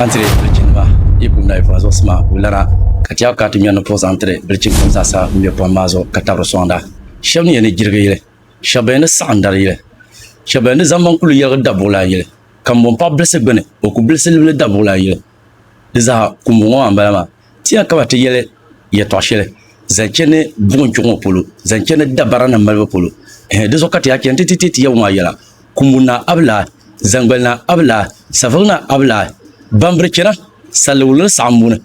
An tiri bilichinima yi kum nayi pɔhim zuɣusi maa kuli lana, ka ti a ka ti nyɔnni puɣi zaŋ tiri bilichini kam zaa sa bɛn be pɔhim maa zuɣu ka tabiri sɔŋda. Shɛb ni yɛn ni jirigi yili, shɛb bɛn ni saɣim dari yili, shɛb bɛn ni zaŋ maŋ kuli yɛligi dabuɣilan yili, ka m bo m paɣ bilisi gbini o ku bilisi libili dabuɣilan yili. Di zaa, kumbu ŋɔ maa m-bala maa. Ti ya ka ba ti yɛli yɛtɔɣ shɛli zaŋ chani buɣim kpiɔŋ ŋɔ polo, zaŋ chani dabaranim malibu polo. Ɛhɛ! Di zuɣu ka ti yaa chani nti ti ti Yawɛ maa yɛla, Kumbuni Naa a bi lahi, zaŋgbali Naa a bi lahi, saveŋ Naa a bi lahi, bambiri chana, salliwulili saɣim buni.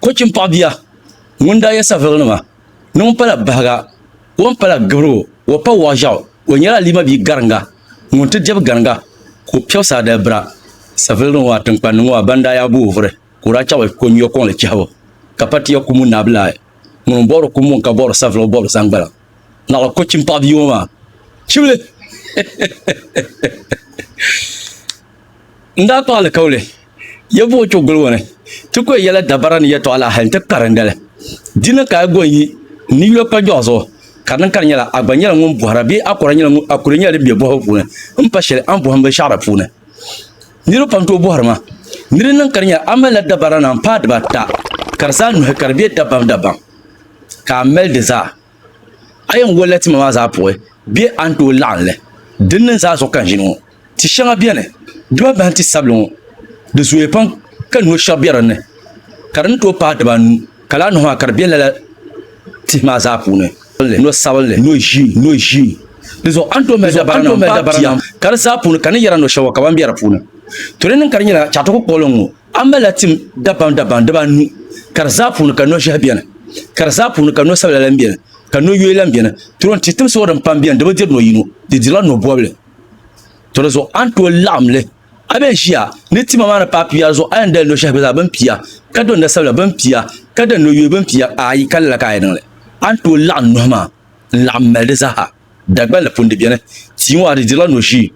Kɔchim paɣ bia, ŋun daa yɛ saveɣinima ni ŋun pala bahiga, o ni pala gibirigu, o pa wɔɣ ʒiɛɣu, o nyɛla Alima bia gariŋga ŋun ti dɛbi gariŋga ka o piɛbu saa dalibira, saveɣinima ŋɔ a tiŋkpanni ŋɔ a ban daa yaa guui vuri. ka o daa chaɣi ko nyuya kɔŋli chɛhibu, ka pa tiya kumu naabila ayi, ŋuni m-bɔbiri kumu ŋ-ka bɔbiri saviligi bɔbiri zaŋgbaliŋ, naɣila ko chim paɣi bia ŋɔ maa chibili n-daa kpaɣi li kauli, ya buɣi kpe guli ŋɔ ni ti ko yɛla dabara ni yɛtɔɣa la hali nti karindi li, di ni ka a go n-yi n ni yula kpajuɣa zuɣu ka di niŋ ka di nyɛla a gba nyɛla ŋun bɔhira bee a kuli nyɛla din be bɔhibu puuni m-pa shɛli a ni bɔhi m binshɛɣu la puuni. Niriba pam tooi bɔhiri ma, ni di niŋ ka di nya a malila dabara naan paai dibaata ka di zaa nuhi ka di be dabamdabam ka a mali di zaa. A yɛn wolila tima maa zaa puhi bɛ a ni tooi laɣim li. Dinni n zaa zuɣu ka n ʒini ŋɔ. Ti shɛŋa beni dibabahim ti sabili ŋɔ, di zooya pam ka noo shɛba be dinni ka di ni tooi paai dibaanu. Ka lala nɔhi maa ka di be lala tihi maa zaa puuni, nɔ sabinli, nɔ ʒii, nɔ ʒii. Di zuɣu a ni tooi mali dabarana m-paai pia, ka di zaa puuni ka ni yɛra nɔ shɛba ka ban be di puuni. To di niŋ ka di nyɛla chɛɣitigu kpuɣili n-ŋɔ, a malila tim dabamdabam dibaanu, ka di zaa puuni ka nɔ ʒɛhi beni, ka di zaa puuni ka nɔ sabila lan beni, ka nɔ yoya lan beni. To din tihi timsi ŋɔ din pam beni di bi diri nɔ yino, di dirila nɔ bɔbili. To di zuɣu a ni tooi laɣim li. A bɛn ʒiya ni tima maa ni paai pia zuɣu, a yɛn dali no shɛhi gba zaa bɛn pia, ka do nasabila bɛn pia, ka dali no yooi bɛn pia, aai, ka lala ka a yi niŋ li. A ni tooi laɣim nuhi maa n-laɣim mali di zaaha. Dagban la pun di beni, tia ŋɔ a di dirila no ʒii,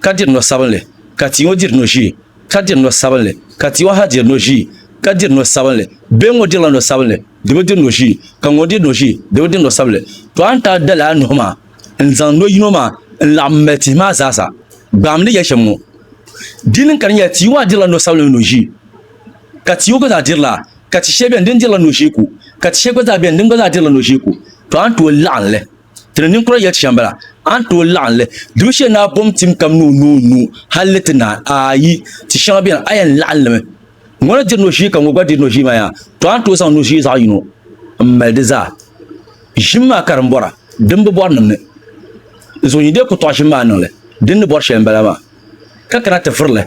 ka diri no sabinli, ka tia ŋɔ diri no ʒii, ka diri no sabinli, ka tia ŋɔ ha diri no ʒii, ka diri no sabinli. Bɛn ŋɔ dirila no sabinli, di bi diri no ʒii, ka ŋun diri no ʒii, di bi diri no sabinli. Tɔ a ni taa dali a nuhi maa. N zaŋ no yino maa n-laɣim m mali tihi maa zaa sa, gbaam ni ya shɛm ŋɔ. Di niŋ ka di nyɛla tia maa dirila no sabila ni no ʒee, ka tia ŋɔ gba zaa dirila, ka ti shɛli beni din dirila no ʒee ku, ka ti shɛli gba zaa beni din gba zaa dirila no ʒee ku. To a ni tooi laɣim li, ti ni ninkura yɛli ti shɛm bala, a ni tooi laɣim li, dubu shɛli ni a bom tim kam ni o noo nuu hal li ti naai, aayi, ti shɛŋa beni a yɛn laɣim li mi. Ŋuna diri nozii ka ŋɔ gba diri nozii maa yaa, to a ni tooi zaŋ nozii zaɣ yino m-mali di zaa. Ʒim maa ka din bɔra, din bi bɔri niŋ ni. Zuɣu yi dee ku tɔɣi ʒim maa niŋ li, din ni bɔri shɛli m-bala maa, ka kana ti vuri li.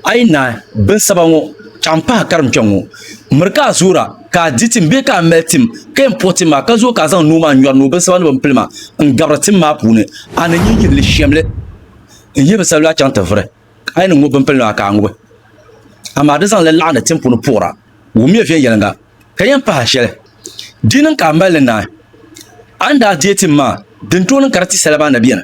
A yi naai, binsaba ŋɔ, chaɣ m-pahi a karim kpɛŋ ŋɔ. Miri ka a zuura, ka a di tim bee ka a mali tim, ka yɛn puhi tim maa, ka zooi ka a zaŋ nuu maa nyɔri ni o binsaba ni bɛ ni pili maa n-gabiri tim maa puuni. A ni nyin yihi li shɛm li n-yihi binsabila chaŋ ti vuri. A yi niŋ o bimpilin maa ka a ŋubi, amaa di zaŋ li laɣindi tim puuni puɣira, wummiya viɛnyɛliŋga, ka yɛn pahi a shɛli. Di yi niŋ ka a mali li naai, a ni daa deei tim maa, di ni tooi niŋ ka di ti sala maa na beni.